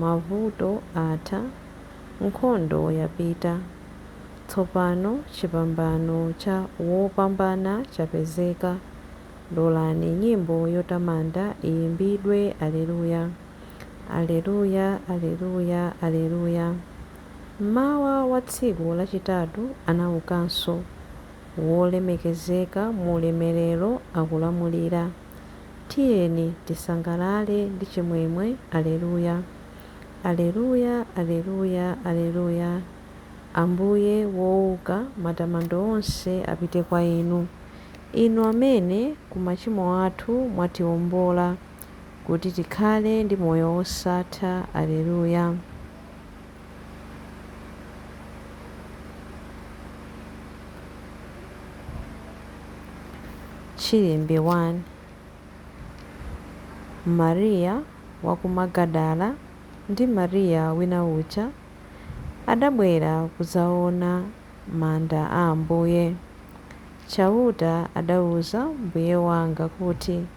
Mavuto atha, nkhondo yapita, tsopano chipambano cha wopambana chapezeka. Lolani nyimbo yotamanda iyimbidwe, Aleluya! Aleluya! Aleluya! Aleluya! Mmawa wa tsiku lachitatu anaukanso, wolemekezeka mu ulemelero akulamulira. Tiyeni tisangalale ndi chimwemwe, Aleluya! Aleluya! Aleluya! Aleluya! Ambuye wouka, matamando onse apite kwa Inu, Inu amene ku machimo athu mwatiombola, kuti tikhale ndi moyo wosatha. Aleluya! Chilimbi 1. Mariya wa ku Magadala ndi Mariya wina uja adabwera kudzaona manda a Ambuye. Chauta adauza Mbuye wanga kuti.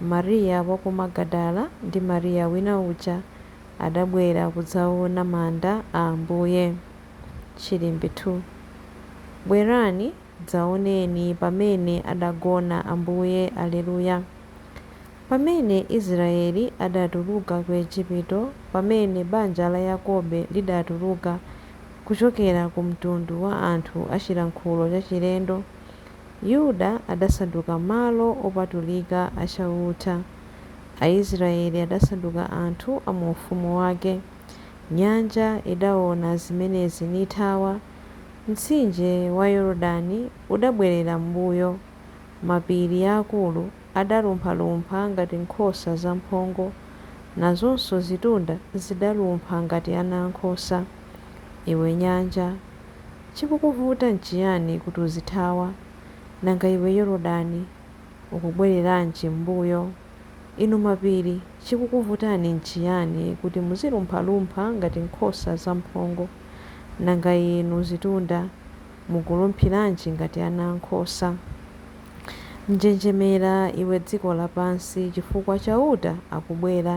Maria wa ku Magadala ndi Maria wina uja adabwera kudzaona manda a Ambuye. Chilimbi 2 Bwerani, dzaoneni pamene adagona Ambuye Alleluia Pamene Israyeli adatuluka ku Ejipito, pamene banja la Yakobe lidatuluka kuchokera ku mtundu wa anthu a chilankhulo chachilendo, Yuda adasanduka malo opatulika a Chauta, Aisraeli adasanduka anthu a mu ufumu wake. Nyanja idaona zimenezi nithawa, mtsinje wa Yorodani udabwerera m'mbuyo. Mapiri aakulu adalumphalumpha ngati nkhosa zamphongo, nazonso zitunda zidalumpha ngati anankhosa. Iwe nyanja. Chikukuvuta n'chiyani kuti uzithawa? Nanga iwe Yorodani, ukubwereranji m'mbuyo? Inu mapiri, chikukuvutani n'chiyani kuti muzilumphalumpha ngati nkhosa zamphongo? Nanga inu zitunda, mukulumphiranji ngati ana a nkhosa? Njenjemera iwe dziko lapansi, chifukwa Chauta akubwera.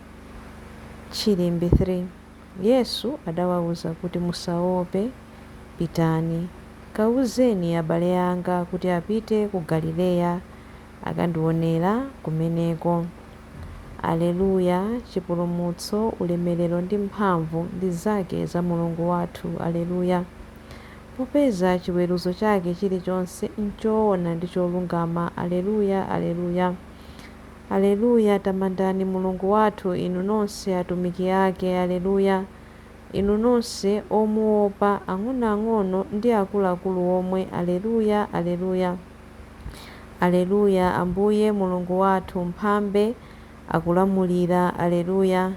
Chilimbi 3. Yesu adawauza kuti, Musaope, pitani, kauzeni abale anga kuti apite ku Galileya, akandiwonera kumeneko. Alleluia, Chipulumutso, ulemerero ndi mphamvu ndi zake za Mulungu wathu. Alleluia. Popeza chiweruzo chake chilichonse nchoona ndi cholungama. Alleluia, Alleluia. Aleluya, Tamandani Mulungu wathu, inu nonse atumiki ake. Aleluya, Inu nonse omuopa, ang'onoang'ono ndi akuluakulu omwe. Aleluya, Aleluya. Aleluya, Ambuye Mulungu wathu, Mphambe, akulamulira. Aleluya.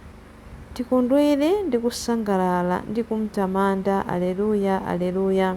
Tikondwere ndi kusangalala ndi kumtamanda. Aleluya, Aleluya.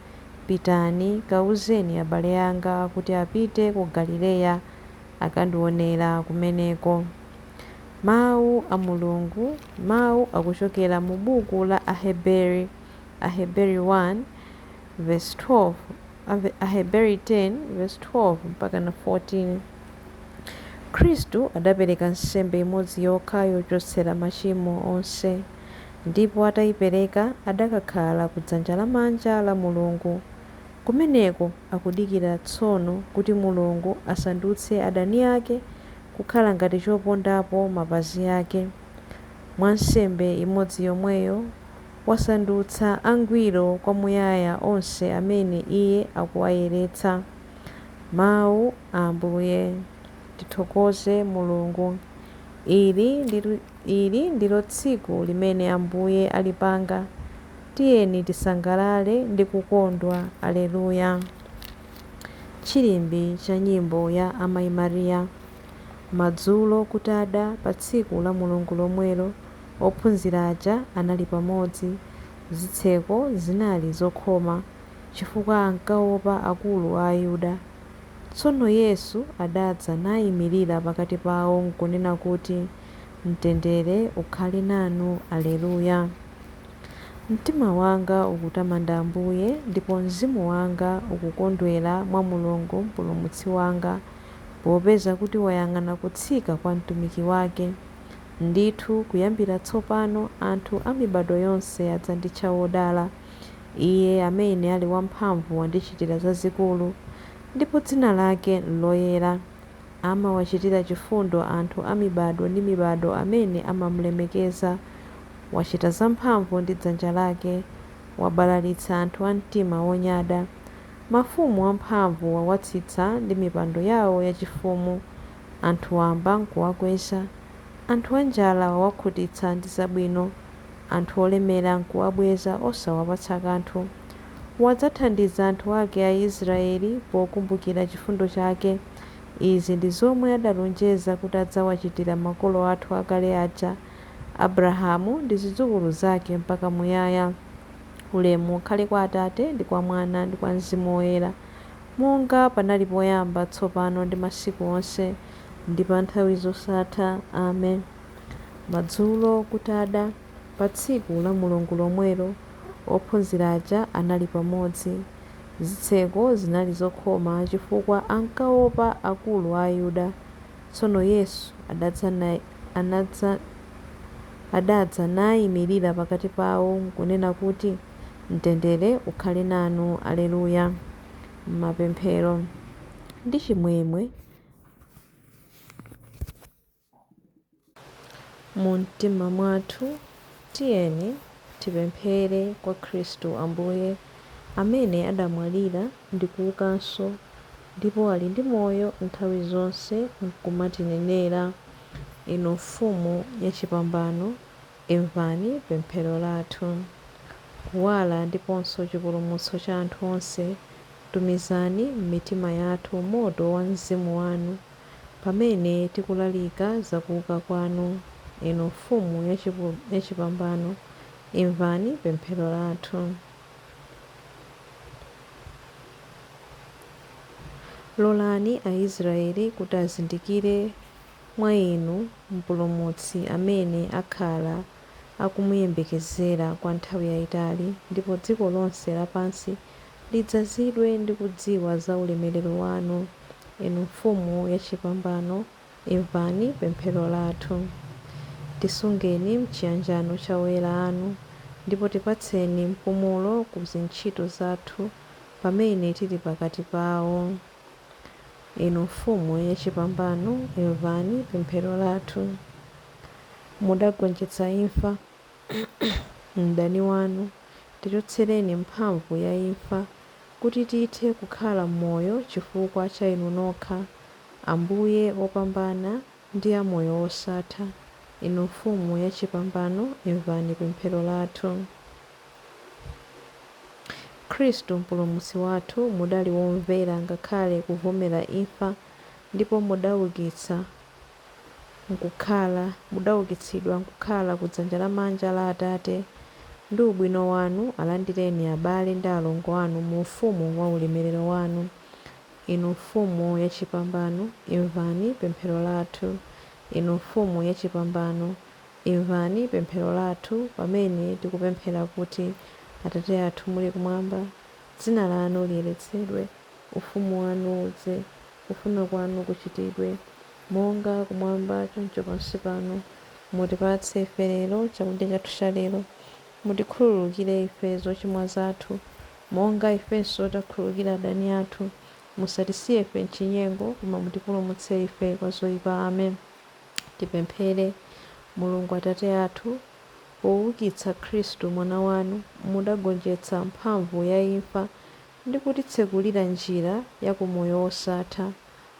Pitani, kauzeni abale anga kuti apite ku Galileya akandionera kumeneko. Mawu a Mulungu, mawu akuchokera mu buku la Aheberi, Aheberi 1 vesi 12, Aheberi 10 vesi 12 mpakana 14. Khristu adapereka nsembe imodzi yokha yochotsera machimo onse. ndipo ataipereka adakakhala ku dzanja lamanja la Mulungu. Kumeneko akudikira tsono kuti Mulungu asandutse adani ake kukhala ngati chopondapo mapazi ake. Mwa nsembe imodzi yomweyo wasandutsa angwiro kwamuyaya onse amene Iye akuwayeretsa. Mau a Ambuye. Tithokoze Mulungu. Ili ndi. Ili ndilo tsiku limene Ambuye alipanga, tiyeni tisangalale ndi kukondwa. Aleluya. Chilimbitso cha Nyimbo ya Amai Maria. Madzulo kutada pa tsiku la Mulungu lomwelo, ophunzira aja anali pamodzi. Zitseko zinali zokhoma, chifukwa ankaopa akulu a Ayuda. Tsono Yesu adadza naimirira pakati pawo nkunena kuti. Mtendere ukhale nanu. Aleluya! Mtima wanga ukutamanda Ambuye, ndipo mzimu wanga ukukondwera mwa Mulungu Mpulumutsi wanga, popeza kuti wayang'ana kutsika kwa mtumiki wake. Ndithu, kuyambira tsopano anthu a mibadwo yonse adzanditcha wodala. Iye amene ali wamphamvu wandichitira zazikulu, ndipo dzina lake n'loyera. amawachitira chifundo anthu a mibadwo ndi mibadwo amene amamlemekeza. Wachita zamphamvu ndi dzanja lake, wabalalitsa anthu a mtima wonyada. Mafumu amphamvu wawatsitsa ndi mipando yao yachifumu, anthu wamba nkuwakweza. Anthu anjala wawakhutitsa ndi zabwino. anthu olemera n'kuwabweza osawapatsa kanthu. Wadzathandiza anthu ake Aisiraeli pokumbukira chifundo chake. Izi ndi zomwe adalonjeza kuti adzawachitira makolo athu akale aja, Abrahamu ndi zidzukulu zake mpaka muyaya. Ulemu ukhale kwa Atate, ndi kwa Mwana, ndi kwa Mzimu Woyera, monga panali poyamba, tsopano ndi masiku onse, ndi pa nthawi zosatha. Amen. Madzulo kutada, pa tsiku la Mulungu lomwelo, ophunzira aja anali pamodzi. Zitseko zinali zokhoma chifukwa ankaopa akulu a Ayuda. Tsono Yesu adadza naimirira pakati pao nkunena kuti, Mtendere ukhale nanu. Alleluia, M'mapemphero ndi chimwemwe. Mu mtima mwathu tiyeni tipemphere kwa Khristu Ambuye, amene adamwalira ndi kuukanso, ndipo ali ndi moyo nthawi zonse, nkumatinenera. Inu Mfumu yachipambano, imvani pemphero lathu. Kuwala ndiponso chipulumutso cha anthu onse, tumizani m'mitima yathu moto wa Mzimu wanu. Pamene tikulalika za kuuka kwanu, Inu Mfumu Yachipambano, imvani pemphero lathu. Lolani a Israyeli kuti azindikire mwa Inu Mpulumutsi amene akhala akumuyembekezera kwa nthawi yaitali, ndipo dziko lonse lapansi Lidzazidwe ndi kudziwa za ulemerero wanu, Inu Mfumu yachipambano, imvani pemphero lathu. Tisungeni m'chiyanjano cha oyera anu, ndipo tipatseni mpumulo ku zintchito zathu pamene tili pakati pawo. Inu Mfumu yachipambano, imvani pemphero lathu. Mudagonjetsa imfa, mdani wanu, tichotsereni mphamvu ya imfa, kuti tithe kukhala moyo chifukwa cha Inu nokha, Ambuye opambana ndi a moyo wosatha, Inu Mfumu ya chipambano, imvani pemphero lathu. Khristu Mpulumutsi wathu, mudali womvera ngakhale kuvomera imfa, ndipo mudaukitsa. nkukhala, mudaukitsidwa nkukhala ku dzanja lamanja la Atate, ndi ubwino wanu alandireni abale ndi alongo anu mu Ufumu wa ulemerero wanu. Inu Mfumu yachipambano, imvani pemphero lathu. Inu Mfumu yachipambano, imvani pemphero lathu pamene tikupemphera kuti, Atate athu muli kumwamba, dzina lanu liyeretsedwe, ufumu wanu udze. Kufuna kwanu kuchitidwe, monga Kumwamba, choncho pansi pano. Mutipatse ife lero chakudya chathu cha lero. Mutikhululukire ife zochimwa zathu, monga ifenso takhululukira adani athu. Musatisiye ife m'chinyengo, koma mutipulumutse ife kwa zoipa. Amen. Tipemphere. Mulungu Atate athu, poukitsa Khristu Mwana wanu, mudagonjetsa mphamvu ya imfa ndi kutitsekulira njira ya ku moyo wosatha,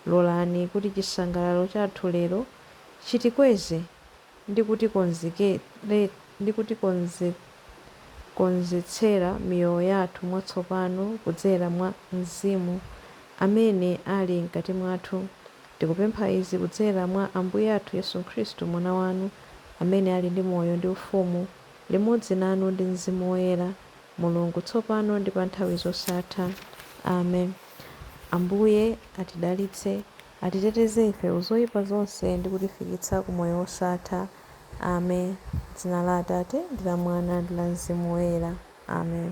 lolani kuti chisangalalo chathu lero chitikweze ndi kutikonzetsera miyoyo yathu mwatsopano kudzera mwa Mzimu amene ali mkati mwathu. Tikupempha izi kudzera mwa Ambuye athu Yesu Khristu, Mwana wanu, amene ali ndi moyo ndi ufumu limodzi nanu ndi Mzimu Woyera. Mulungu, tsopano ndi pa nthawi zosatha. Amen. Ambuye atidalitse, atiteteze ife ku zoipa zonse ndi kutifikitsa ku moyo wosatha. Amen. M'dzina la Atate, ndi la Mwana, ndi la Mzimu Woyera. Amen.